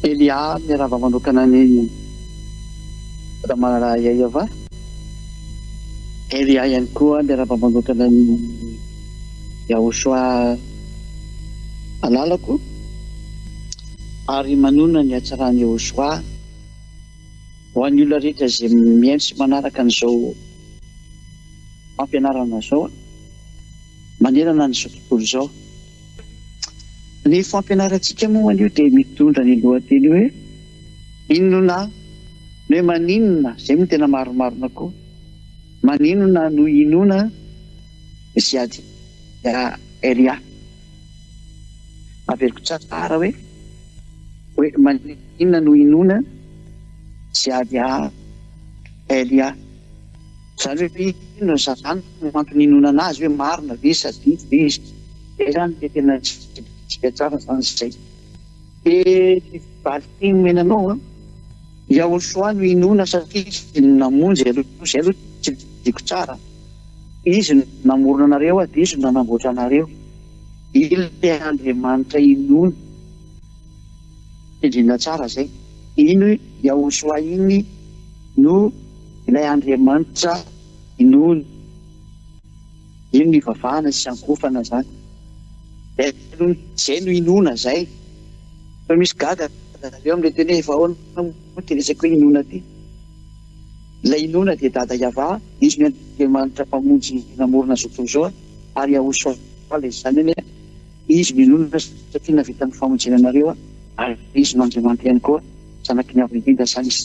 Elia miarahaba manokana an'i Ramalala Yayava. Elia ihany koa miarahaba manokana an'i Yahoshua alalako ary manonona ny hatsaran'i Yahoshua. Ho an'ny olona rehetra izay mihaino sy manaraka an'izao fampianarana izao manerana an'izao tontolo izao. Ny fampianarantsika moa anio dia mitondra ny lohateny hoe Inona no hoe maninona, izay moa no tena marimarina koa, maninona no hinoana Ziad Yahya. Averiko tsara hoe hoe maninona no hinoana Ziady a Elia. Izany hoe inona no zava-n no antony hinoana anazy hoe marina ve sa diso ve izy. Izay izany dia tena tsy vitantsika tsara izany izay. Dia valin men anao a Yahoshua no hinoana satria izy no namonjy aloha. Izay aloha tsy vidiako tsara. Izy no namorona anareo sady Izy no nanamboatra anareo. Ilay Andriamanitra inoany. Tendrena tsara izay. Iny Yahoshua iny no ilay Andriamanitra inoany. Iny no ivavahana sy iankohofana izany. Izay no inoana izay. Fa misy gaga amin'ilay teny hoe efa ahoana moa ity resaka hoe inoana ity. Ilay inoana dia Dada Yavah, izy no Andriamanitra Mpamonjy namorona izao tontolo izao, ary Yahushua ilay izany anie, Izy no inoana satria nahavita ny famonjena anareo, ary Izy no Andriamanitra ihany koa, Zanaky ny Avo Indrindra izany Izy.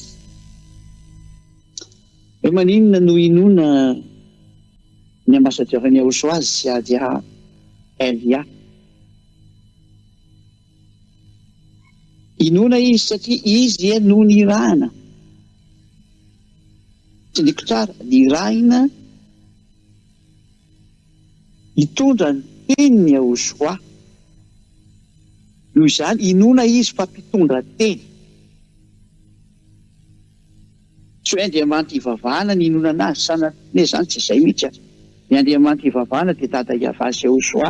Hoe maninona no inoana ny ambasadiora an'i Yahushua azy sy Adia El Yah? Inoana izy satria izy ie no nirahana. Tsindriako tsara, nirahina hitondra ny tenin'i Yahoshuà. Noho izany, inoana izy fa mpitondra teny. Tsy hoe Andriamanitra ivavahana ny hinonana azy, sanatria anie izany tsy izay mihitsy aza. Ny Andriamanitra ivavahana dia Dada Yavah sy Yahoshuà.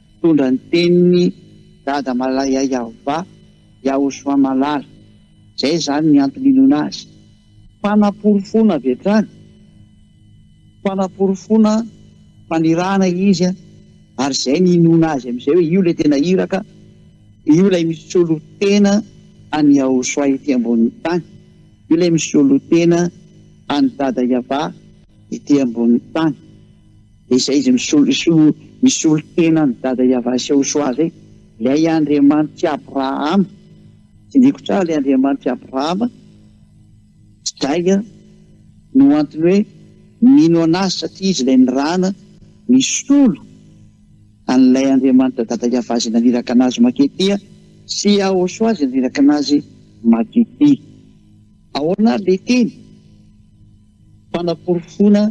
Nitondra ny tenin'i Dada Malayayavva Yaoswamalala, izay izany ny antony inoana azy. Fanaporofoana avy hatrany, fanaporofoana fanirahana izy ary izay ny inoana azy amin'izay hoe io ilay tena iraka, io ilay misolo tena an'i Yaoswa ety ambonin'ny tany, io ilay misolo tena an'i Dada Yavva ety ambonin'ny tany. Izay izay misolo tena an'i Dada Yavasy ao Soa izay, ilay Andriamanitr'i Abrahama, tsindriako tsara ilay Andriamanitr'i Abrahama, izay no antony hoe mino an'azy satria izy ilay nirahana nisolo an'ilay Andriamanitra Dada Yavasy naniraka an'azy mankety ity a, sy ao Soa izay naniraka an'azy mankety ity. Ahoana ary ilay teny? Fanaporofoana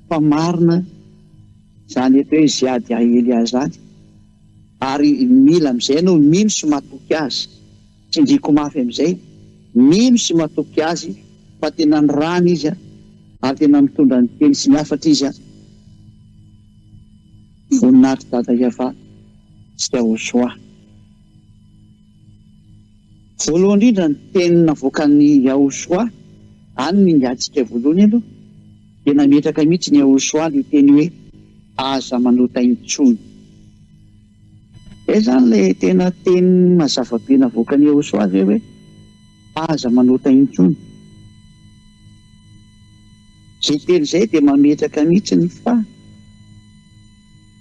fa marina izany eto hoe Ziad Aelia izany ary mila amin'izay ianao mino sy matoky azy. Tsindriako mafy amin'izay, mino sy matoky azy fa tena nirana izy ary tena nitondra ny teny sy ny hafatra izy. Voninahitra Dada Yavah sy Yahushua. Voalohany indrindra ny teny navoakan'i Yahushua, any no ingahintsika voalohany aloha, dia nametraka mihitsy ny Yahushua ilay teny hoe aza manota intsony. Izay izany ilay tena teny mazava be navoakan'i Yahushua ve hoe aza manota intsony. Izay teny izay dia mametraka mihitsy ny fa.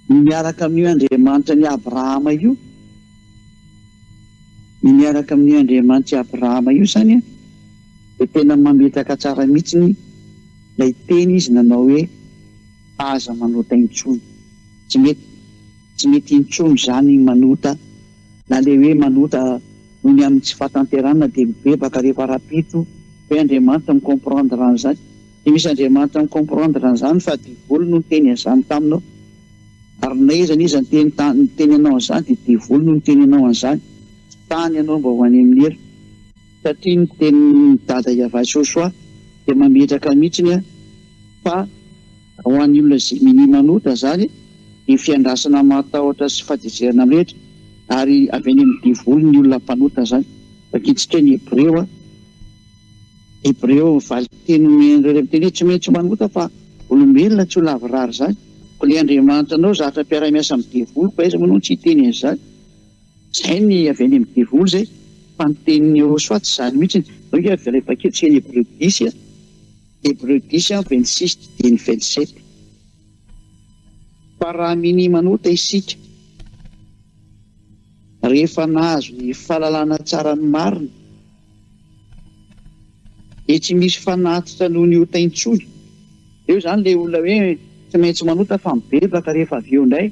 Ny miaraka amin'io Andriamanitra an'i Abrahama io, ny miaraka amin'io Andriamanitry Abrahama io izany dia tena mametraka tsara mihitsy ilay teny izy nanao hoe aza manota intsony. Tsy mety, tsy mety intsony izany ny manota, na ilay hoe manota noho ny amin'ny tsy fahatanterahana dia mibebaka rehefa rahampitso ve Andriamanitra mi-comprendre an'izany? Dia misy Andriamanitra mi comprendre an'izany fa devoly no niteny an'izany taminao. Ary na iza na iza niteny ta, niteny anao an'izany dia devoly no niteny anao an'izany. Tsy tany ianao mba ho any amin'ny helo. Satria ny tenin'i Dada Yavachochoa dia mametraka mihitsiny an, fa ho an'ny olona Gemini manota izany dia fiandrasana mahatahotra sy fahatezerana mirehitra, ary avy any amin'ny devoly ny olona mpanota izany. Vakitsika ny Hebreo an. Hebreo, ny valinteny omen'ireo renim-teny hoe tsy maintsy manota fa olombelona tsy ho lavorary izany. Koa ilay Andriamanitra anao zatra mpiara-miasa amin'ny devoly, koa aiza moa ianao tsy hiteny an'izany? Izay ny avy any amin'ny devoly izay, fa ny tenin'i Yehosua tsy izany mihitsy. Izao nge avy ilay paik'efitra eny Hebreo disy a, Hebreo disy amby vingt six didieny vingt sept, Fa raha minia manota isika, rehefa nahazo ny fahalalana tsara ny marina, Dia tsy misy fanatitra noho ny ota intsony. Eo izany ilay olona hoe tsy maintsy manota fa mibebaka rehefa avy eo indray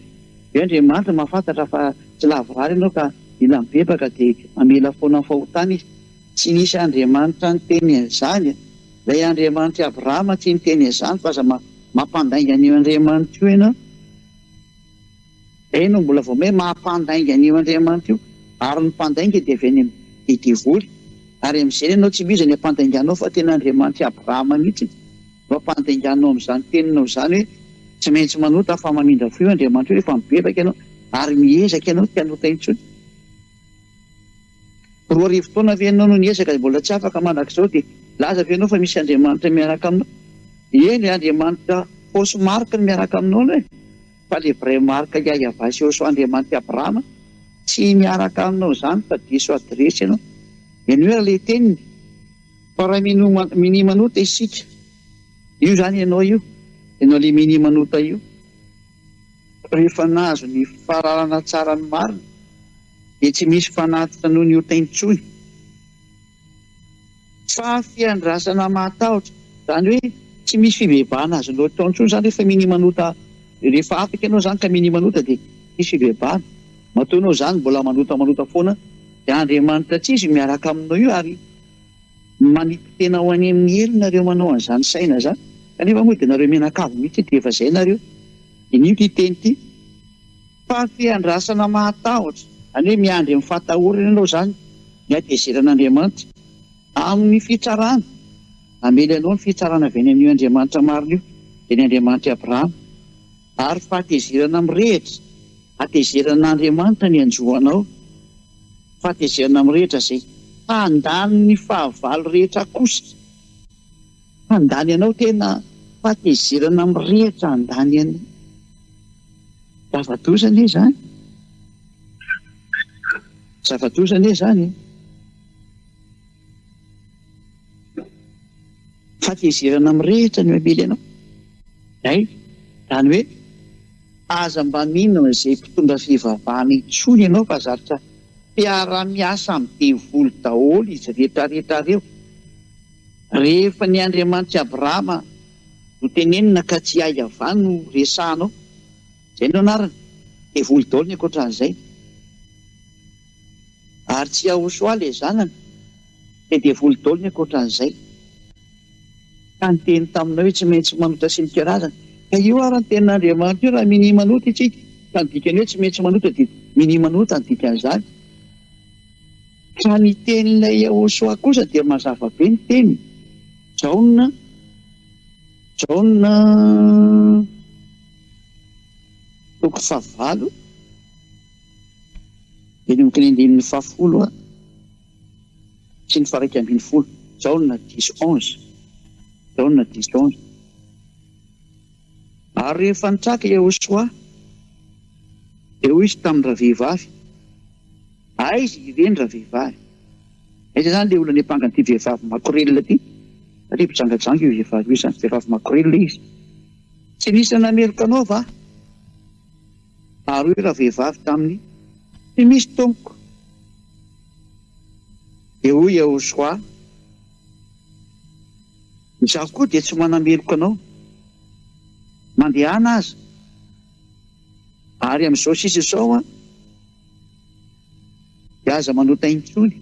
dia Andriamanitra mahafantatra fa tsy lavorary ianao ka mila mibebaka dia mamela foana ny fahotana Izy. Tsy nisy Andriamanitra niteny an'izany e! Ilay Andriamanitr'i Abrahama tsy niteny an'izany fa aza mampandainga an'io Andriamanitra io ianao. Izay no mbola vao hoe maha-mpandainga an'io Andriamanitra io. Ary ny mpandainga dia avy any amin'ny devoly. Ary amin'izay ny anao tsy mino izay ny ampandainganao fa tena Andriamanitr'i Abrahama mihitsy no ampandainganao amin'izany teninao izany hoe tsy maintsy manota fa mamindra fo io Andriamanitra io rehefa mibebaka ianao ary miezaka ianao tsy hanota intsony. Roa arivo taona ve ianao no niezaka ary mbola tsy afaka mandrakizao dia milaza ve ianao fa misy Andriamanitra miaraka aminao? Eny e, Andriamanitra fausse marque no miaraka aminao ianao e! Fa ilay vraie marque Yahvah sy Yhoshua Andriamanitra i Abrahama tsy miaraka aminao izany fa diso adiresy ianao. Mihainoa ery ilay teniny fa raha mino minia manota isika io izany ianao io, ianao ilay minia manota io rehefa nahazo ny fahalalana tsara ny marina, dia tsy misy fanatitra noho ny ota intsony fa fiandrasana mahatahotra, izany hoe tsy misy fibebahana azonao atao intsony izany rehefa minia manota, rehefa afaka ianao izany ka minia manota dia tsy misy fibebahana, matoa ianao izany mbola manota manota foana dia Andriamanitra tsy izy miaraka aminao io ary manipy tena ho any amin'ny helo nareo manao an'izany saina izany kanefa moa dia nareo mianakavy mihitsy dia efa izay nareo, dia ny io ity teny ity. Fahafiandrasana mahatahotra. Zany hoe miandry amin'ny fahatahorana ianao zany ny hatezeran'Andriamanitra amin'ny fitsarana. Namely anao ny fitsarana avy any amin'io Andriamanitra marina io, dia ny Andriamanitr'i Abrahama. Ary fahatezerana mirehitra, hatezeran'Andriamanitra ny hanjo anao, fahatezerana mirehitra izay handany ny fahavalo rehetra akosa. Handany anao tena fahatezerana mirehitra handany an'i zava-doza anie izany zava-doza anie izany e! Fahatezerana mirehitra no hamely anao izay izany hoe aza mba mino an'izay mpitondra fivavahana intsony ianao fa zatra mpiara-miasa amin'ny devoly daholo izy rehetra rehetra ireo. Rehefa ny Andriamanitr'i Abrahama no tenenina ka tsy ahy Yavah no resahanao, izay no anarany, dia voly daholo ny ankoatran'izay. Ary tsy Yahoshua ilay zanany, dia dia voly daholo ny ankoatran'izay. Ka niteny taminao hoe tsy maintsy manota sy mika razana. Ka io ary ny tenin'Andriamanitra io raha minia manota isika, ka ny dikany hoe tsy maintsy manota dia minia manota ny dikan'izany. Fa ny tenin'ilay Yehosua kosa dia mazava be ny teniny, Jaona, Jaona toko fahavalo, eny amin'ny teny andininy fahafolo sy ny faharaika ambin'ny folo, Jaona dix onze, Jaona dix onze. Ary rehefa nitraka i Iehosoa, dia hoy izy tamin'ny ravehivavy, Aiza ireny ravehivavy? Aiza izany ilay olona niampangan'ity vehivavy makorelina ity? Satria mpijangajanga io vehivavy io izany, vehivavy makorelina izy. Tsy nisy nanameloka anao va? Ary hoy ravehivavy taminy, Tsy misy, tompoko. Dia hoy Iehosoa, Izaho koa dia tsy manameloka anao mandehana aza ary amin'izao sisa izao an dia aza manota intsony.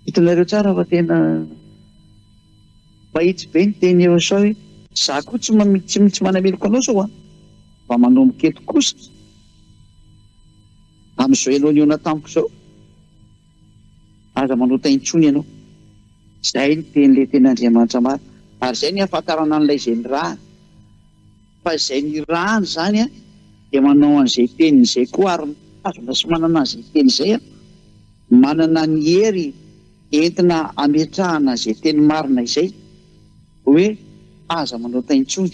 Hitanareo tsara fa tena mahitsy be ny teny eo sao hoe. Izaho koa tsy tsy tsy manameloka anao sao an mba manomboka eto kosa amin'izao ianao nihaona tamiko izao Aza manota intsony ianao. Izay no tenin'ilay tena Andriamanitra marina. Ary izay no ihafantarana an'ilay izay nirahany. Fa izay nirahany izany dia manao an'izay teniny izay koa ary mitazona sy manana an'izay teny izay aho. Manana ny hery entina hametrahana izay teny marina izay. Hoe aza manota intsony.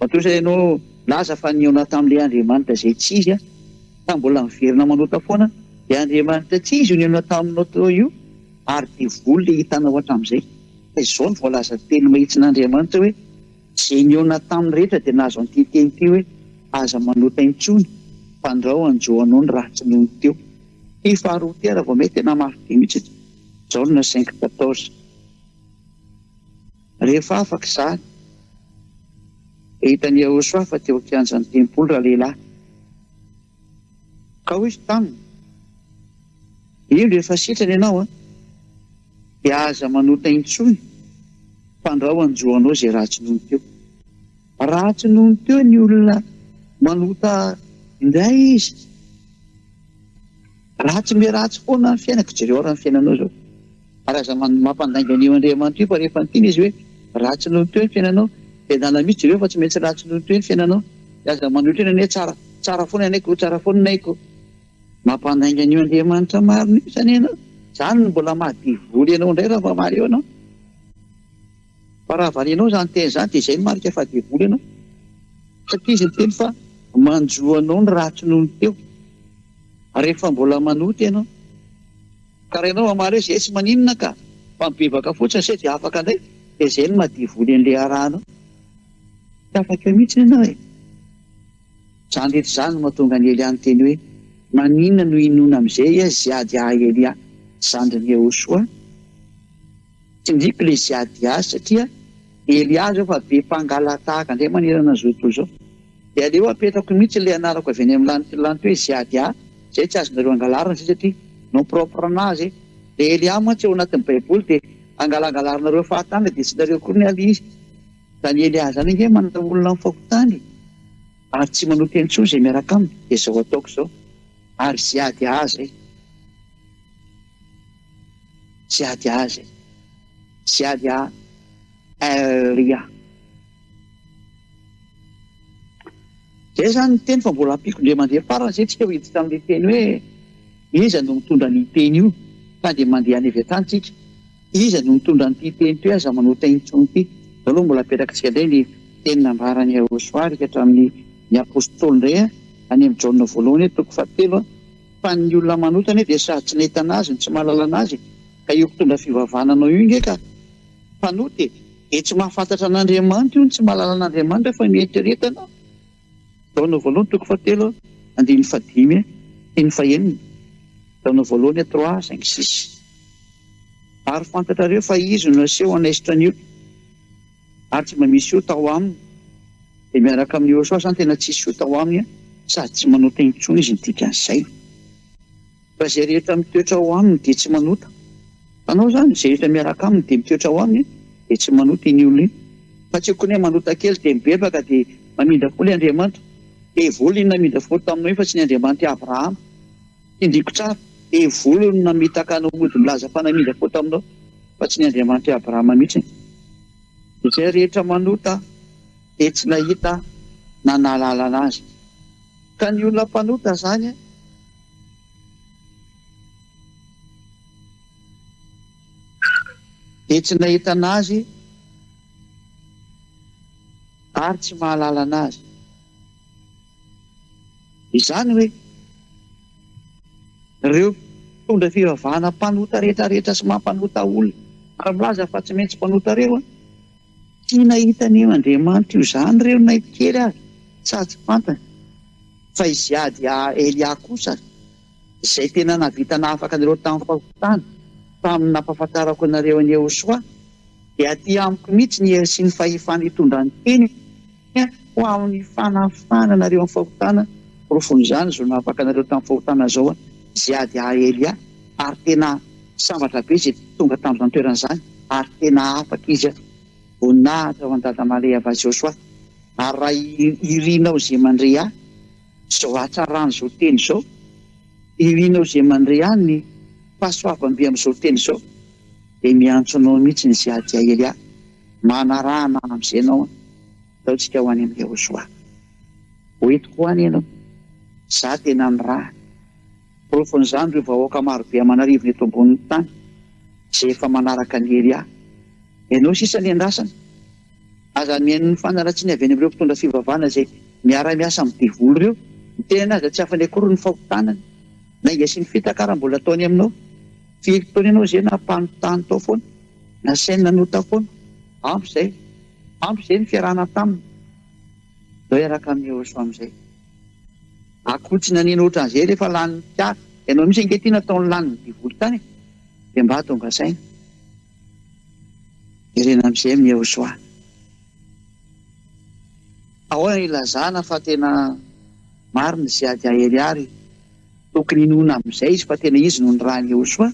Matoa ianao milaza fa nihaona tamin'ilay Andriamanitra izay tsy izy aho, ka mbola miverina manota foana, dia Andriamanitra tsy izy io nihaona taminao teo io, ary devoly ilay hitanao hatramin'izay. Fa izao no voalazan'ny Teny mahitsin'Andriamanitra hoe, Izay nihaona taminy rehetra dia nahazo an'ity teny ity hoe, Aza manota intsony, fandrao hanjo anao ny ratsy nony teo. Ity faharoa ity ary vao may tena mafy be mihitsy. Izao no nasain'i Kitatos. Rehefa afaka izany, dia hitan'i Iehosòa fa teo an-kianjan'ny tempoly ralehilahy. Ka hoy izy taminy, Indro efa sitrana ianao, dia aza manota intsony, fandrao hanjo anao izay ratsy nony teo. Raha tsy nony teo ny olona manota indray izy. Ratsy me ratsy foana ny fiainako, jereo raha ny fiainanao zao. Ary aza mampandainga an'io Andriamanitra io fa rehefa niteny izy hoe ratsy nony teo ny fiainanao de adala mitsy jereo fa tsy maintsy ratsy nony teo ny fiainanao de aza manohitra eny anie tsara tsara foana ny aiko tsara foana ny aiko. Mampandainga an'io Andriamanitra marina io zany ianao. Zany no mbola maha devoly anao indray raha mba mahaleo anao. Fa raha varianao izany teny izany dia izay no marika fa devoly ianao. Satria izy niteny fa manjo anao ny ratsy noho ny teo. Ary rehefa mbola manota ianao. Ka raha ianao mamaly hoe izay tsy maninona ka, fa mibebaka fotsiny izay dia afaka indray, dia izay no maha devoly an'ilay iarahanao. Tsy afaka eo mihitsy ianao e. Izany rehetra izany no mahatonga an'i Elia niteny hoe, Maninona no hinoana amin'izay izy hiady ahy Elia zandrin'i Iehosoa? Tsindriko le ziady azy satria hery azy aho fa be mpangalatahaka ndray manerana zao tontolo zao. De aleo apetrako mitsy le anarako avy any am lantilanty hoe ziady ahy zay tsy azonareo angalarina zay satria nom propre anazy e. Le hery ahy mantsy ao anatin'ny baiboly de angalangalarinareo fahatany de tsy nareo koa ny alia izy. Zany hery ahy zany ange manana olona am fahotany ary tsy manota intsony zay miaraka aminy de zao ataoko zao ary ziady ahy zay. Tsy ady azy e! Tsy ady a Ry a! Zay zany ny teny fa mbola ampiko ndre mandeha farany zay tsika ho iditra amle teny hoe iza no mitondra anio teny io fa dia mandeha any avy atany tsika iza no mitondra anty teny toy aza manota intsony ty zao aloha mbola apetrakitsika ndray ny teny nambarany Yahosoa rika hatramin'ny ny apostoly ndray a any am Jaona voalohany toko fahatelo a Fa ny olona manota anie dia sady tsy nahita anazy no tsy mahalala anazy e! Ka io mpitondra fivavahana anao io nge ka mpanota e! Dia tsy mahafantatra an'Andriamanitra io no tsy mahalala an'Andriamanitra fa mienteretana Jaona voalohany toko fahatelo andininy fahadimy sy ny fahenina Jaona voalohany trois cinq six Ary fantatrareo fa izy no naseho hanaisotra ny ota ary tsy mba misy ota ao aminy dia miaraka amin'i Yehosua zany tena tsisy ota ao aminy sady tsy manota intsony izy ny dikan'izay fa izay rehetra mitoetra ao aminy dia tsy manota fanao zany izay rehetra miaraka aminy dia mitoetra ao aminy dia tsy manota iny olona iny fa tsy kone manota kely dia mibebaka dia mamindra fo le Andriamanitra dia volina namindra fo taminao iny fa tsy ny Andriamanitra Abrahama Tindriko tsara, devoly no namitaka anao mody milaza fa namindra fo taminao, fa tsy ny Andriamanitr'i Abrahama mihitsy. Izay rehetra manota dia tsy nahita na nahalala anazy. Ka ny olona mpanota izany. Dia tsy nahita anazy ary tsy mahalala anazy. Izany hoe, ireo mpitondra fivavahana mpanota rehetra rehetra sy mampanota olona ary milaza fa tsy maintsy mpanota ireo an! Tsy nahita ny Andriamanitra io izany ireo na kely aza sa tsy fantany fa i Ziad i Elia kosa izay tena nahavita nahafaka anareo tamin'ny fahotana tamin'ny nampahafantarako anareo an'i Yehosoa dia aty amiko mihitsy ny hery sy ny fahefana hitondra ny teniko Ho amin'ny fanafahana anareo amin'ny fahotana, porofon'izany izao nahavaka anareo tamin'ny fahotana izao izay ady ahy Elia, ary tena sambatra be izay tonga tamin'izany toerana izany, ary tena afaka izy. Voninahitra ho an'i Dada Maleha Vazosoa, ary raha irinao izay mandre ahy, izao hatsaran'izao teny izao, irinao izay mandre ahy ny fahasoavam-be amin'izao teny izao, dia miantso anao mihitsy ny izay ady ahy Elia. Manarahana amin'izay ianao an! Ataontsika ho any amin'i Yehosoa. Ho entiko ho any ianao. Izaho tena ny rà. Porofon'izany ireo vahoaka marobe aman'arivony eto ambonin'ny tany, izay efa manaraka an'i Elia. Ianao sisa ny andrasana. Aza mihaino ny fanaratsiana avy any amin'ireo mpitondra fivavahana izay miara-miasa amin'ny devoly ireo. Ny tenany aza tsy afany akory ny fahotanany. Lainga sy ny fitaka ary mbola ataony aminao. Firy taona ianao izay nampanontany tao foana? Nasaina notakona, ampy izay, ampy izay ny fiarahana taminy, izao hiaraka amin'i Rossy amin'izay. Akotsina nino ohatran'izay rehefa lanin'ny mpiara. Ianao mihitsy ange ity nataony lanin'ny devoly tany e! Dia mba tonga saina. Jerena amin'izay amin'i Yehosoa. Ahoana no ilazana fa tena marina izay ady ahery àry? Tokony inoana amizay izy fa tena izy no niraha an'i Iehosoa,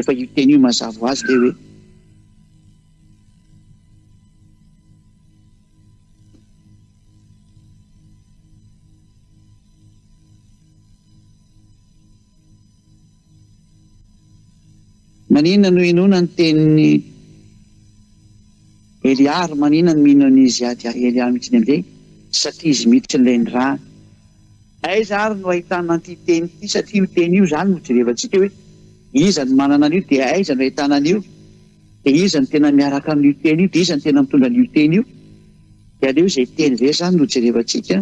efa io teny io mazava ho azy le hoe, Maninona no inoana ny tenin'i Elia ary maninona no mino an'izy ady ahy Elia amin'ity indray? Satria izy miditra ilay nirahany. Aiza ary no ahitana an'ity teny ity satria io teny io izany no jerevantsika hoe iza no manana an'io dia aiza no ahitana an'io dia iza no tena miaraka amin'io teny io dia iza no tena mitondra an'io teny io dia aleo izay teny izay izany no jerevantsika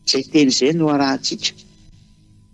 izay teny izay no arahantsika.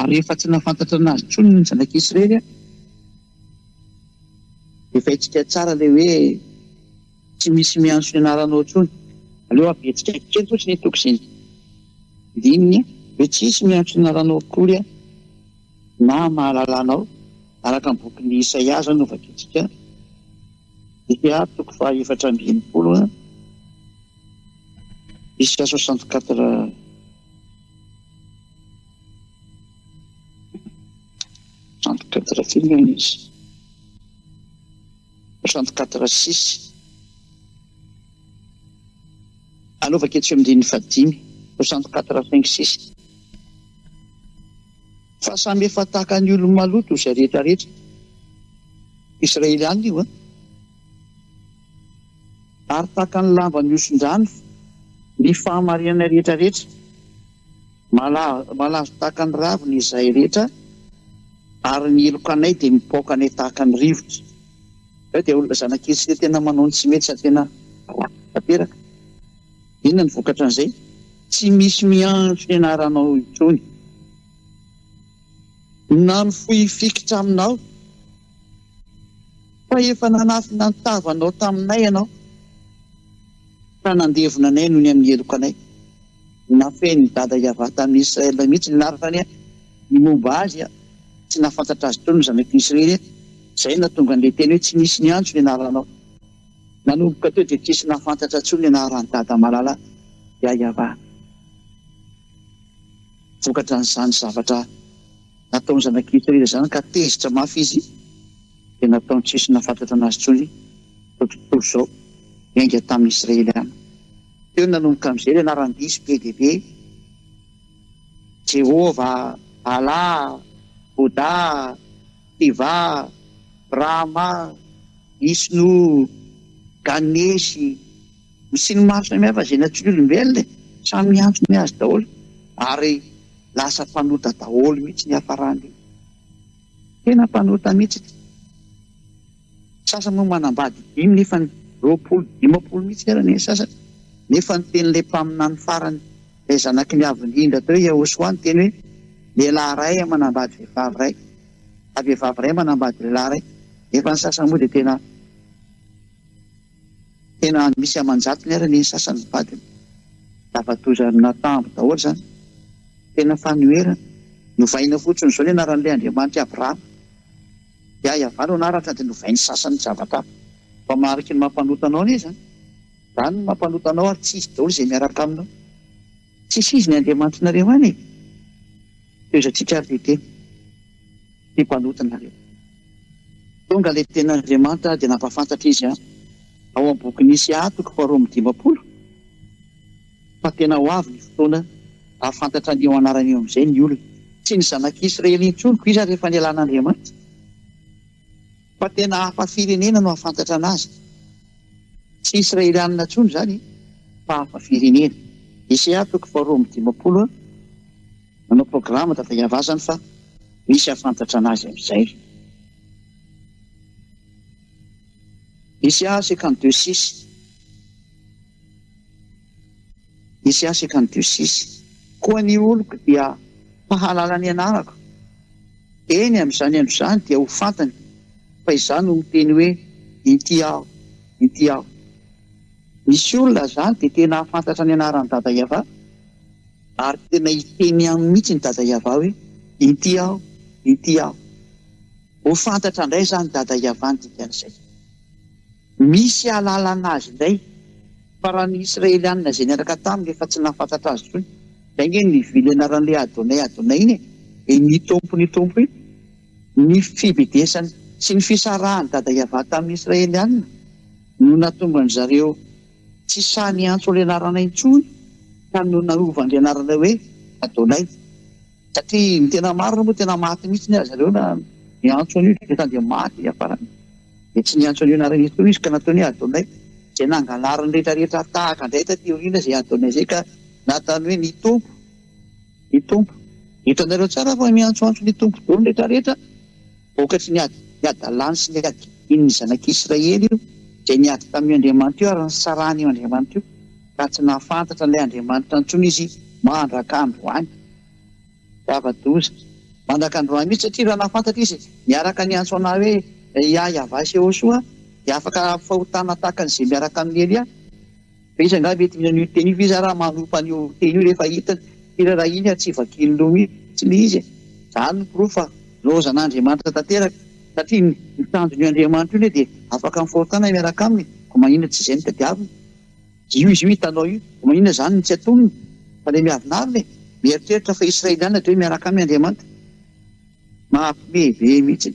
Ary rehefa tsy nahafantatra anazy tsony ny zanak'i Israely aho, dia fahintsika tsara ilay hoe tsy misy miantso ny anaranao tsony. Aleo habetsika kely fotsiny hitoko izay dininy hoe tsisy miantso ny anaranao akory aho na mahalala anao, araka ny bokin'i Isaia izao no vakintsika, dia toko faha efatra amby enimpolo, Isaia soixante quatre. Trente quatre firy moa izy? Trente quatre six. Anaovako etsy amin'ny andininy fahadimy, soixante quatre cinq six. Fa samy efa tahaka ny olo-maloto izay rehetra rehetra. Israeliana io an! Ary tahaka ny lamba mihoson-drano ny fahamarinanay rehetra rehetra, malazo tahaka ny ravina izahay rehetra, ary ny helokanay dia mipaoka anay tahaka ny rivotra. Izaho dia olona zanakely sy dia tena manao ny tsy mety sady tena ratsy tanteraka. Inona ny vokatran'izay? Tsy misy miantso ny anaranao intsony na mifoifikitra aminao. Fa efa nanafina ny tavanao taminay ianao, ka nandevona anay noho ny amin'ny heloka anay. Nafehin'i dada Yavah tamin'i Israël mihitsy ny anarany ny momba azy, tsy nahafantatra azy intsony ny zanaky Israël, izay no nahatonga an'ilay teny hoe tsy nisy niantso ny anaranao. Nanomboka teo dia tsy nisy nahafantatra intsony ny anaran'i dada malala Yavah vokatran'izany zavatra. Nataon'ny zanak'i Israely izany ka tezitra mafy izy, dia nataony tsy nisy nahafantratra anazy intsony izao tontolo izao, niainga tamin'ny Israeliana. Teo no nanomboka amin'izay ilay laram-diso be dia be, Jehovah, Bala, Boda, Siva, Brahma, Vishnu, Ganesh, Ny siny maro samihafa izay natory olombelona e! Samy miantso ny azy daholo ary lasa mpanota daholo mihitsy ny hiafarany. Tena mpanota mihitsy ity. Ny sasany moa manambady dimy nefany roapolo, dimampolo mihitsy aza ny sasany. Nefa ny tenin'ilay mpaminany farany, ilay zanaky ny Avo Indrindra teo Yahoshuah niteny hoe, Lehilahy iray manambady vehivavy iray, na vehivavy iray manambady lehilahy iray. Nefa ny sasany moa dia tena. Tena misy aman-jatony ary anie ny sasany vadiny. Lava-doza ary natambo daholo izany. Tena fanoherana. Novaina fotsiny izao ilay anaran'ilay Andriamanitra i Abrahama. Dia Yavah no anarany dia novain'ny sasany zavatra hafa. Fa mariky ny maha mpanota anao anie izany. Izany no maha mpanota anao ary tsy izy daholo izay miaraka aminao. Tsisy izy ny Andriamanitrinareo any e! Tohizantsika ary ve tena tia mpanota nareo? Tonga ilay tena Andriamanitra dia nampahafantatra izy ao amin'ny bokin'i Isaiah toko faharoa amby dimampolo fa tena ho avy ny fotoana hahafantatra an'io anarana io amin'izay ny olona. Tsy ny zanak'Israely intsony koa iza rehefa nialan'Andriamanitra. Fa tena hafa firenena no hahafantatra anazy. Tsy Israelianina intsony izany fa hafa firenena. Eseha toko faharoa amby dimampolo manao programa tato ihavazany fa misy hahafantatra anazy amin'izay. Eseha cinquante deux six. Misy aseka ny diosisy. Koa ny oloko dia mpahalala ny anarako. Eny, amin'izany andro izany dia ho fantany fa izaho no miteny hoe, Inty aho, inty aho. Misy olona izany dia tena hahafantatra ny anaran'i Dada Yavah, ary tena hiteny aminy mihitsy ny Dada Yavah hoe, Inty aho, inty aho. Ho fantatra indray izany Dada Yavah ny dikan'izay. Misy ahalalana azy indray fa raha ny Israelianina izay niaraka taminy efa tsy nahafantatra azy intsony, izay ange ny vily anaran'ilay Adonai Adonai iny e, e ny Tompo ny Tompo iny, ny fibedesany sy ny fisarahan'i Dada Yavah tamin'ny Israelianina no nahatonga an-dry zareo tsy sahy niantso ilay anarana intsony ka no nanovany ilay anarana hoe Adonai. Satria ny tena marina moa tena maty mihitsy aza ireo na niantso an'io Jonathan dia maty izy afarany dia tsy niantso an'io anarana io koa izy ka nataony hoe Adonay izay nangalariny rehetra rehetra tahaka indray taty aoriana izay Adonay izay ka natany hoe ny Tompo ny Tompo hitanareo tsara fa miantsoantso ny Tompo dolo rehetra rehetra Vokatry ny ady hadalany sy ny adiany ny zanak'i Israely io dia niady tamin'io Andriamanitra io ary nisarahana io Andriamanitra io raha tsy nahafantatra an'ilay Andriamanitra intsony izy mandraka androany. Zava-doza mandraka androany mihitsy satria raha nahafantatra izy miaraka niantso anà hoe Iah Yavah Sehosoa dia afaka hahafahotana tahaka an'izay miaraka amin'i Elia. Fa iza angaha mety mihaino io teny io? Fa iza raha manompa an'io teny io rehefa hitany firarahiany ary tsy vakiany loha mihitsy ilay izy e? Izany no porofo fa lozain'Andriamanitra tanteraka satria ny ny tanjon'io Andriamanitra io anie dia afaka mifahotana miaraka aminy e! Koa maninona tsy izay no tadiaviny? Io izy io hitanao io, koa maninona izany no tsy atonony? Fa ilay miavonavona e! Mieritreritra fa Israeliana dia hoe miaraka aminy Andriamanitra? Mampme be mihitsy!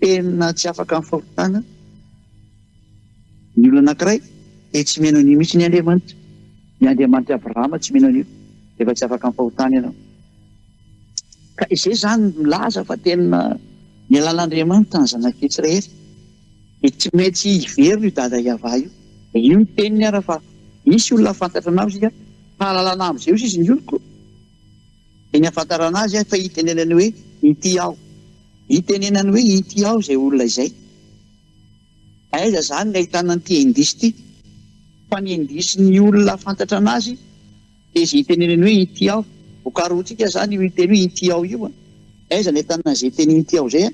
Tena tsy afaka amin'ny fahotana ny olona anankiray dia tsy mino an'io mihitsy ny Andriamanitra. Ny Andriamanitr'i Abrahama tsy mino an'io, rehefa tsy afaka amin'ny fahotana ianao. Ka izay izany milaza fa tena nialana Andriamanitra ny zanak'i Israely. Dia tsy maintsy hiverina io dada Yavah io. Dia io ny teniny ara fa, Hisy olona hafantatra anao isika, hahalalana amin'izay osa izy ny oloko. Eny ahafantarana azy aho fa itenenany hoe ity aho. Itenenany hoe ity aho izay olona izay. Aiza izany ny ahitana an'ity indisy ity? Fa ny indisy ny olona hafantatra an'azy dia izay itenenany hoe ity aho. Vokaroantsika izany io hiteny hoe ity aho io. Aiza ny ahitana an'izay teny ity aho izay?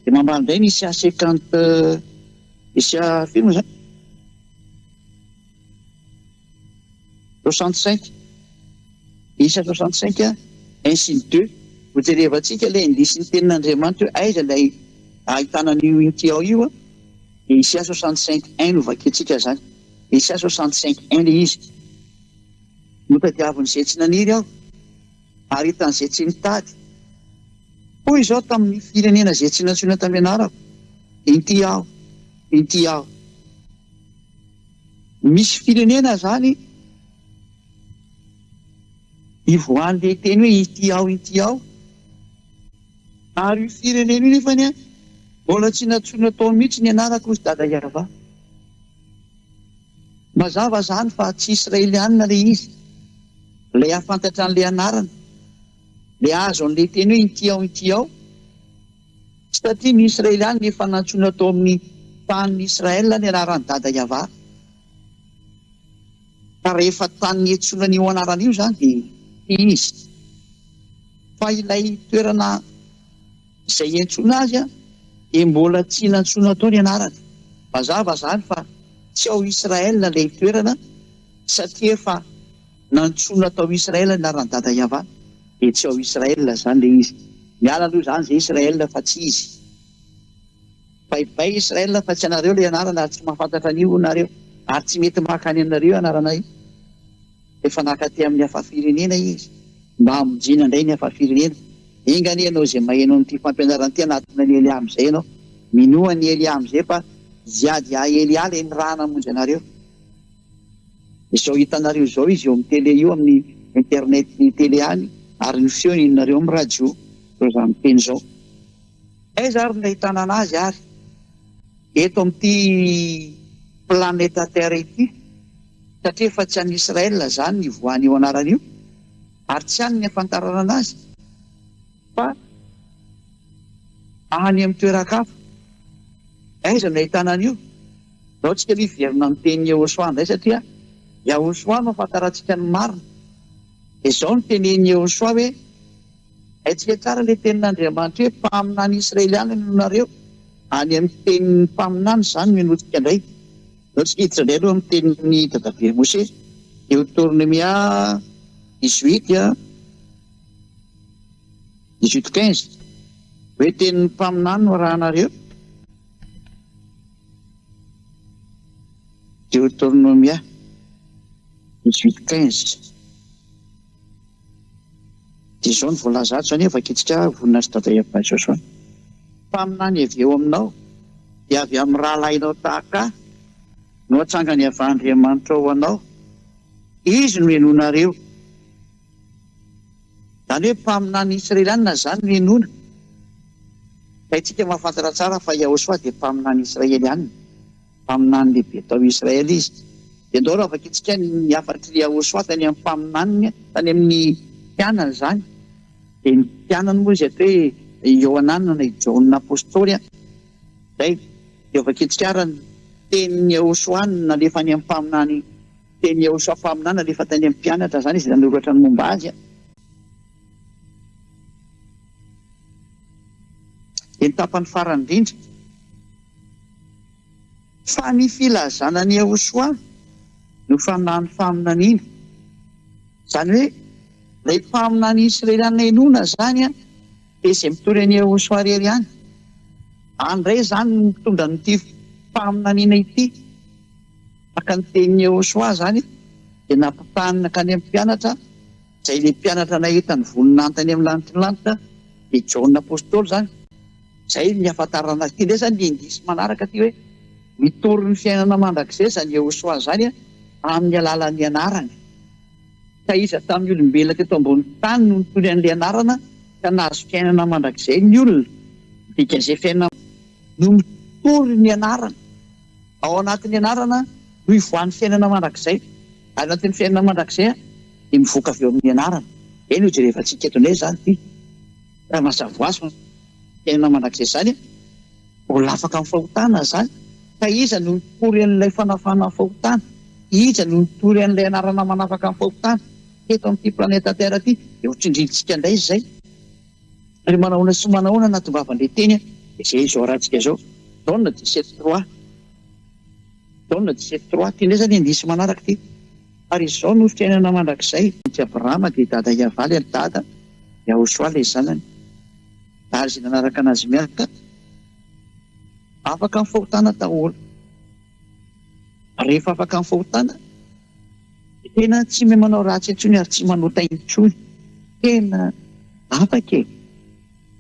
Dia mambara indray ny Isya cinquante, Isya firy moa izany? Soixante cinq, isa soixante cinq ainsi de deux, ho jerevantsika ilay indisin'ny tenin'Andriamanitra hoe aiza ilay ahitana an'io inty ao io, dia isa soixante cinq un no vakintsika izany, isa soixante cinq un ilay izy, Notadiavin'izay tsy naniry aho, ary hitan'izay tsy nitady. Hoy izao tamin'ny firenena izay tsy nantsoina tamin'ny anarako, Inty aho, inty aho. Misy firenena zany ivoahan' le teny hoe ity ao ity ao, ary io firenena io nefany an, mbola tsy nantsoina tao mihitsy ny anarako ozy dada yava. Mazava zany fa tsy israelianina le izy, le hafantatra anle anarana, le azo anle teny hoe ity ao ity ao, Tsy tatia ny Israely any nefa nantsoina tao amin'ny tanin'i Israel ny anaran'i Dada Yavah. Ka rehefa tany niantsoana an'io anarana io izany dia tia izy. Fa ilay toerana izay iantsoana azy dia mbola tsy nantsoina tao ny anarany. Mazava izany fa tsy ao Israel ilay toerana satria efa. Nantsoina tao Israël ny anaran'i Dada Yava dia tsy ao Israël izany ilay izy. Miala aloha izany izay Israël fa tsy izy. Bye bye Israël fa tsy anareo ilay anarana ary tsy mahafantatra an'io nareo ary tsy mety maka any aminareo io anarana io. Efa naka aty amin'ny hafa firenena izy mba hamonjena indray ny hafa firenena. Enga anie ianao izay maheno an'ity fampianarana ity hanatona an'i Eliah amin'izay ianao. Minoa an'i Eliah amin'izay fa hiady ahy Eliah ilay niraha namonjy anareo. Izao hitanareo izao izy eo amin'ny tele io amin'ny internet ny tele any ary ny feo henonareo amin'ny radio izao zany miteny izao. Aiza ary no ahitana anazy ary? Eto amin'ity planeta terre ity satria efa tsy an'i Israel izany io voany io anarana io ary tsy any ny ahafantarana anazy. Fa any amin'ny toeran-kafa, aiza no ahitana an'io? Izao tsika aloha hiverina amin'ny teny Yehosua indray satria Yahosoa no ahafantarantsika ny marina. Dia izao no tenenin'i Yehosua hoe, Haintsika tsara ilay tenin'Andriamanitra hoe, Mpaminany Israeliana no nareo. Any amin'ny tenin'ny mpaminany izany no henointsika indray. Izao tsika hiditra indray aloha amin'ny tenin'i dadabe Mosesy, Deotornomia dix-huit, Dix-huit quinze, Hoe tenin'ny mpaminany no arahanareo? Deoteronomia dix-huit quinze, dia izao no voalaza ato, izany hoe vakintsika vonona sy dada Eva Joshua, Mpaminany avy eo aminao, dia avy amin'ny rahalahinao tahaka ahy no atsangany avy Andriamanitra ho anao, Izy no henoinareo. Izany hoe mpaminany israelianina izany no henoina. Ka isika mahafantatra tsara fa Yahoshua dia mpaminany israelianina. Mpaminany lehibe tao Israely izy. Dia andao raha vakintsika ny hafatr'i Yahoshua tany amin'ny mpaminaniny, tany amin'ny mpianany izany. Dia ny mpianany moa izy ato hoe i Iohanana na i Jaona apostoly. Izay. Dia vakintsika ara ny tenin'i Yahoshua nalefa any amin'ny mpaminany Teny Iehosua mpaminany alefa tany amin'ny mpianatra izany izy nanoratra ny momba azy. Dia ny tapany farany indrindra. Fa ny filazana an'i Iehosua no fanahin'ny faminaniana. Izany hoe ilay mpaminany israeliana inoana izany dia izay mitory an'i Iehosua irery ihany. Any indray izany no mitondra an'ity faminaniana ity. Araka ny tenin'i Yehosua izany dia nampitahainy nankany amin'ny mpianatra, izay ilay mpianatra nahita ny voninahitra eny amin'ny lanitry ny lanitra dia Jaona Apostoly izany. Izay ny hahafantarana azy. Ity indray izany ny indisy manaraka ity hoe mitory ny fiainana mandrakizay izany Yehosua izany amin'ny alalan'ny anarany. Ka iza tamin'ny olombelona teto ambonin'ny tany no nitory an'ilay anarana ka nahazo fiainana mandrakizay? Ny olona. Ny dikajefn no mitory ny anarana. Ao anatin'ny anarana no ivoahan'ny fiainana mandrakizay. Ary ao anatin'ny fiainana mandrakizay dia mivoaka avy eo amin'ny anarana. Izay no hijerevantsika eto indray izany ity. Raha mazava ho azy fa fiainana mandrakizay izany, mbola afaka amin'ny fahotana izany. Ka iza no hitory an'ilay fanafahana ny fahotana? Iza no hitory an'ilay anarana manafaka ny fahotana? Teto amin'ity planeta Terre ity dia hotsindrintsika indray izay. Ry manahoana sy manahoana anaty vavan-dre teny a! Izay izao ratsika izao. Done dix-sept trois. Done dix-sept trois. Ty indray izany indisy manaraka ty. Ary izao no fiainana mandrakizay. Ity Abrahama dia dada i Avaly ary dada i Ahosoa ilay zanany. Ary izay nanaraka anazy miarka afaka ny fahotana daholo. Rehefa afaka ny fahotana dia tena tsy mia manao ratsy intsony ary tsy manota intsony. Tena afaka e!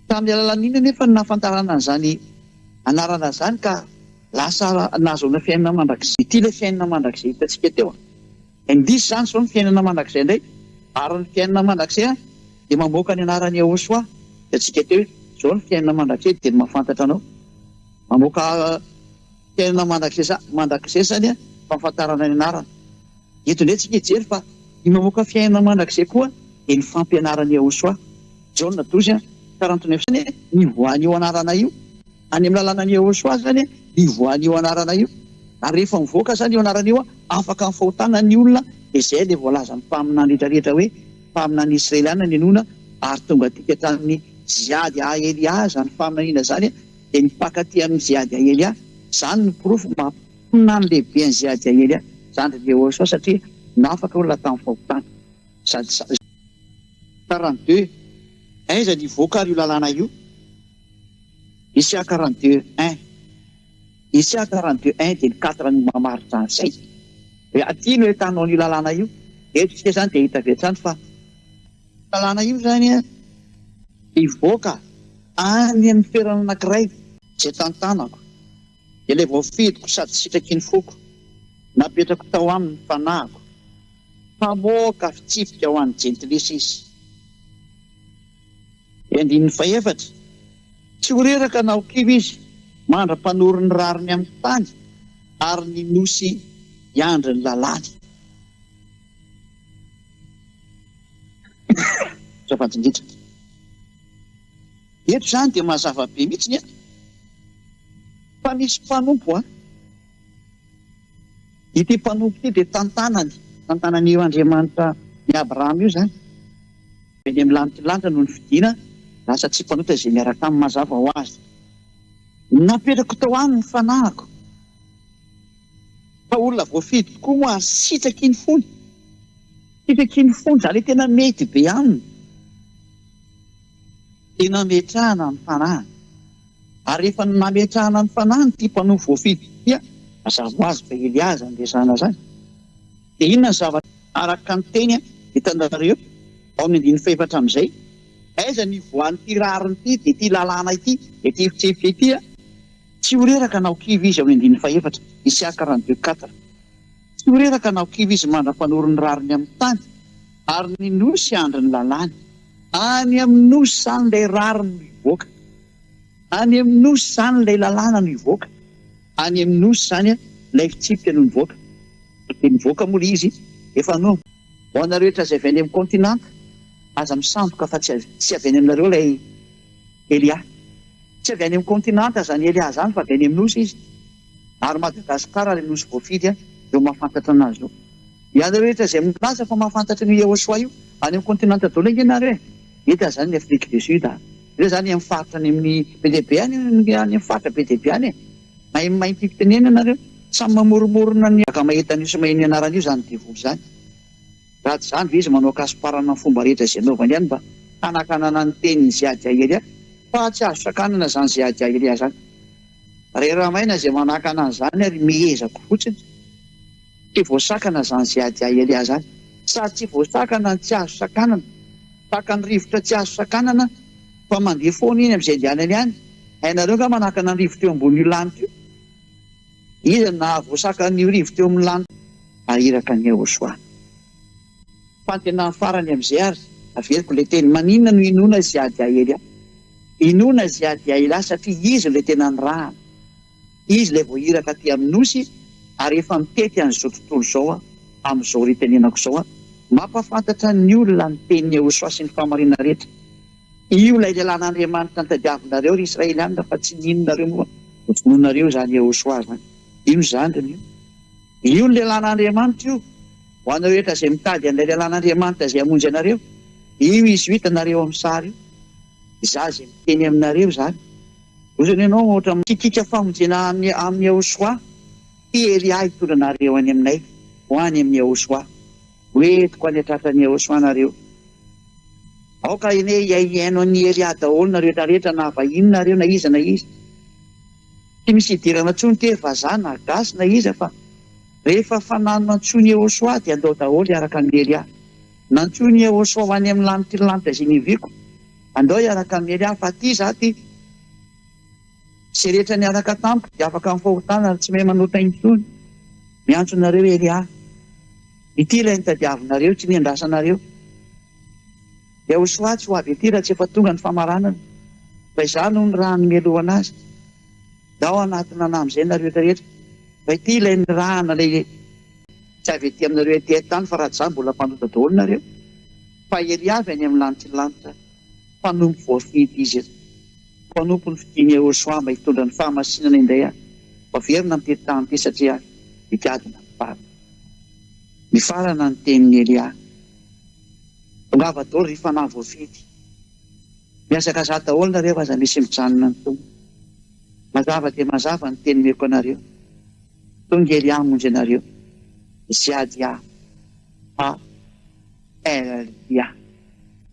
Tamin'ny alalan'inona anefa no nahafantarana an'izany anarana izany ka lasa nahazoana fiainana mandrakizay? Ity ilay fiainana mandrakizay hitantsika teo. Indrisy izany izao ny fiainana mandrakizay indray ary ny fiainana mandrakizay dia mamoaka ny anaran'i Yehosua. Hitantsika teo hoe izao ny fiainana mandrakizay dia ny mahafantatra anao. Mamoaka. Tena mandrakizay mandrakizay izany an fahafantarana ny anarana. Eto indray tsika hijery fa ny mamoaka fiainana mandrakizay koa dia ny fampianaran'i Yahoshuah. Jaona dozy an, taranto ny fsny ny voan'io anarana io. Any amin'ny lalànan'i Yahoshuah izany an ny voan'io anarana io. Ary rehefa mivoaka izany io anarana io an, afaka ny fahotana ny olona dia izay ilay voalazan'ny mpaminany rehetra rehetra hoe mpaminany Israeliana ny henoina ary tonga dika tamin'ny Ziad ha Eliah izany faminaniana izany dia ny mpankatia an'i Ziadiaelia, izany no porofo maha-mponina ny lehibe an'i Ziadiaelia, zandrin'i Jehoshua, satria nafaka olona tamin'ny fahotana. Sad. Quarante deux, Aiza no hivoaka ary io lalàna io? Isa quarante deux, un. Isa quarante deux, un dia ny quatre no mamaritra an'izay. Hoe aty no ahitanao an'io lalàna io. Eto isika izany dia hita avy hatrany fa. Lalàna io izany hivoaka any amin'ny toerana anankiray izay tantanako, dia ilay voafidiko sady sitraky ny foko, napetrako tao aminy ny fanahiko, hamoaka fitsipika ho an'ny jentilisa izy. Dia andininy fahefatra, Tsy ho reraka na ho kivy izy mandra-panory ny rariny amin'ny tany ary ny nosy hiandry ny lalàny. Azafady indrindra. Eto izany dia mazava be mihitsy ny eto fa misy mpanompo an! Ity mpanompo ity dia tantanany, tantanan'io Andriamanitra ny Abraham io izany. Dia ny amin'ny lanitra lanitra no nifidina lasa tsy mpanota izay miaraka aminy mazava ho azy. Napetrako tao aminy ny fanahiko. Fa olona voafidy tokoa moa ary sitraky iny fony. Sitraky iny fony izany hoe tena mety be aminy dia nametrahana ny fanahiny. Ary rehefa nametrahana ny fanahiny ity mpanompo voafidy ity dia mazava ho azy fa Eliaza no resahana izany. Dia inona ny zavatra araka ny teny hitanareo ao amin'ny andininy fahefatra amin'izay? Aiza ny ivoahan'ity rariny ity dia ity lalàna ity, ity fitsipika ity? Tsy ho reraka na ho kivy izy ao Indiny fahefatra, Isiaka Randrieux quatre. Tsy ho reraka na ho kivy izy mandra-panoro ny rariny amin'ny tany, ary ny nosy hiandry ny lalàny. Any amin'ny nosy izany ilay rariny no hivoaka, any amin'ny nosy izany ilay lalàna no hivoaka, any amin'ny nosy izany ilay fitsipika no nivoaka. Dia nivoaka moa ilay izy efa no. Ho anareo rehetra izay avy any amin'ny kaontinanta, aza misandoka fa tsy avy any aminareo ilay Elia. Tsy avy any amin'ny kontinanta izany Elià izany fa avy any amin'ny nosy izy, ary Madagasikara ilay nosy voafidy izao mahafantatra anazy io. Ianareo rehetra izay milaza fa mahafantatra an'io Yehoshuà io, any amin'ny kontinanta daholo ange ianareo e! Eto aza any ny Afrique du Sud a! Ireo izany any amin'ny faritra any amin'ny be dia be any, any amin'ny faritra be dia be any e! Mahay ny mahay fitenenana ireo, samy mamoromorona ny ankamahetan'io sy mahay ny anarana io izany devoly izany. Raha tsy izany ve izy manao kasoparana ny fomba rehetra izay anaovany ihany mba hanakanana ny tenin'i Ziad Jahiria fa tsy azo sakanana izany Ziad Jahiria izany. Rera maina izay manakana an'izany ary mihezako fotsiny. Tsy voasakana izany Ziad Jahiria izany. Sady tsy voasakana ny tsy azo sakanana. Tahaka ny rivotra tsy azo sakanana fa mandeha foana iny amin'izay andehanany any. Hainareo angaha manakana ny rivotra eo ambonin'io lanitra io? Iza no nahavoasaka an'i Orivo teo amin'ny lanitra? Nahiraka an'i Yehosoa. Fantenan'ny farany amin'izay ary, averiko ilay teny, maninona no inoana i Zeadiaely ahy? Inoana i Zeadiaely ahy satria izy ilay tena nirahana. Izy ilay voahiraka aty amin'ny Nosy ary efa mitety an'izao tontolo izao aho, amin'izao hitenenako izao aho. Mampahafantatra ny olona ny tenin'i Yehosoa sy ny fahamarinana rehetra. Io ilay lehilahin'Andriamanitra nitadiavinareo, ry Israelianina, fa tsy nininonareo moa no vonoinareo izany Iehosoa izany. Io zandriny io. Io ny lehilahin'Andriamanitra io. Ho anareo rehetra izay mitady an'ilay lehilahin'Andriamanitra izay hamonjy anareo, io izy io hitanareo amin'ny sary io. Izaho izay miteny aminareo izany. Lozana ianao ohatra amin'ny. Kitika famonjena any amin'i Iehosoa, Ity Elia hitondra anareo any aminay, ho any amin'i Iehosoa. Ho entiko any an-tratran'i Yehosua nareo. Aoka anie hiaihiaino an'i Elia daholo nareo rehetra rehetra na avy inona nareo na iza na iza. Tsy misy hidirana intsony tery vazaha na gasy na iza fa rehefa fanano nantsoin'i Yehosua dia andao daholo hiaraka amin'i Elia. Nantsoin'i Yehosua ho any amin'ny lanitry ny lanitra izay niviako. Andao hiaraka amin'i Elia fa aty izaho aty. Izay rehetra miaraka tamiko dia afaka amin'ny fahotana ary tsy mahay manota intsony. Miantso anareo ery aho. Ity ilay nitadiavinareo sy niandrasanareo. Yahoshuah tsy ho avy ety raha tsy efa tonga ny famaranana, fa izaho no ny raha nimelohana azy. Dia ao anaty nana amin'izay nareo rehetra rehetra. Fa ity ilay nirahana ilay tsy avy ety aminareo ety an-tany fa raha tsy izany mbola mpanota daholo nareo. Fa ery avy any amin'ny lanitry ny lanitra, mpanompo voafidy izy eto. Mpanompon'ny fidiny Yehosua mba hitondra ny fahamasinana indray aho, ho averina am-piritaham-py satria aho dia gadona ny farany. Nifarana ny tenin'i Elia. Tongava daholo ry fanahy voafidy. Mihazakazaha daholo nareo aza misy mijanona ny Tompo. Mazava dia mazava ny teny omeko anareo. Tonga Elia hamonjy anareo. Ziadia. HLIA.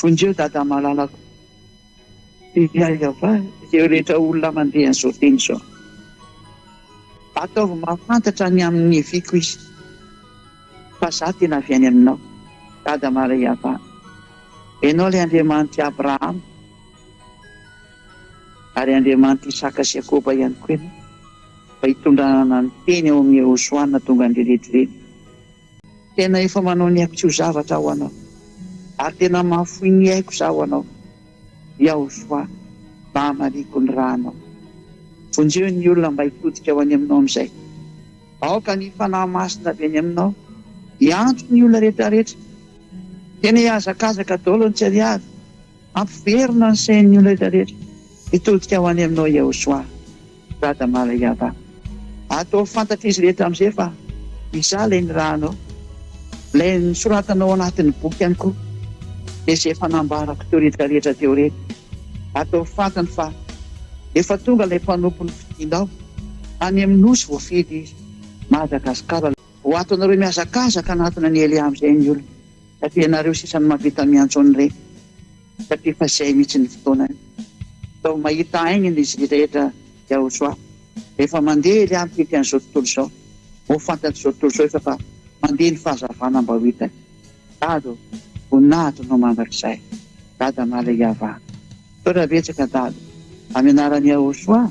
Vonjeo Dada malalako. Dia aiza va izay rehetra olona mandeha an'izao teny izao. Ataovy mahafantatra ny amin'ny neviko izy fa za tena avy any aminao Dada Maria va. Ianao ilay Andriamanitr'i Abrahama ary Andriamanitr'i Isaka sy Iakoba ihany koa ianao fa itondranana ny teny ao amin'ny Eosoana tonga an-dReledreledy. Tena efa manao ny aiko tsy ho zavatra ho anao ary tena mahafoy ny aiko za ho anao Yahoshua mahamariako ny ra anao Vonjeo ny olona mba hitodika ho any aminao amin'izay Aoka ny Fanahy Masina avy any aminao hianto ny olona rehetrarehetra Tena hihazakazaka daolo ny tsy ariary Ampiverina ny sain'ny olona rehetra rehetra hitodika ho any aminao Yehosua, Dada Mala Yava. Ataovy fantatr'izy rehetra amin'izay fa Izaho ilay nirahanao, ilay nosoratanao ao anatin'ny boky ihany koa, dia izay efa nambarako teo rehetra rehetra teo ireny. Ataovy fantany fa efa tonga ilay mpanompo nofidinao, any amin'ny Nosy voafidy izy, Madagasikara. Ho ato anareo mihazakazaka hanatona an'i Elia amin'izay ny olona. Fa dia ianareo sisa no mahavita miantso an'ireny satria efa zay mihitsy ny fotoanany. Sao mahita aingana izy ry Reda Yahosoa rehefa mandeha ery ampitety an'izao tontolo izao. Ho fantatr'izao tontolo izao efa fa mandeha ny fahazavana mba ho hitany. Dada ô, voninahitra anao mandrakizay. Dada Malehiava. Misaotra betsaka Dada. Amin'ny anaran'i Yahosoa.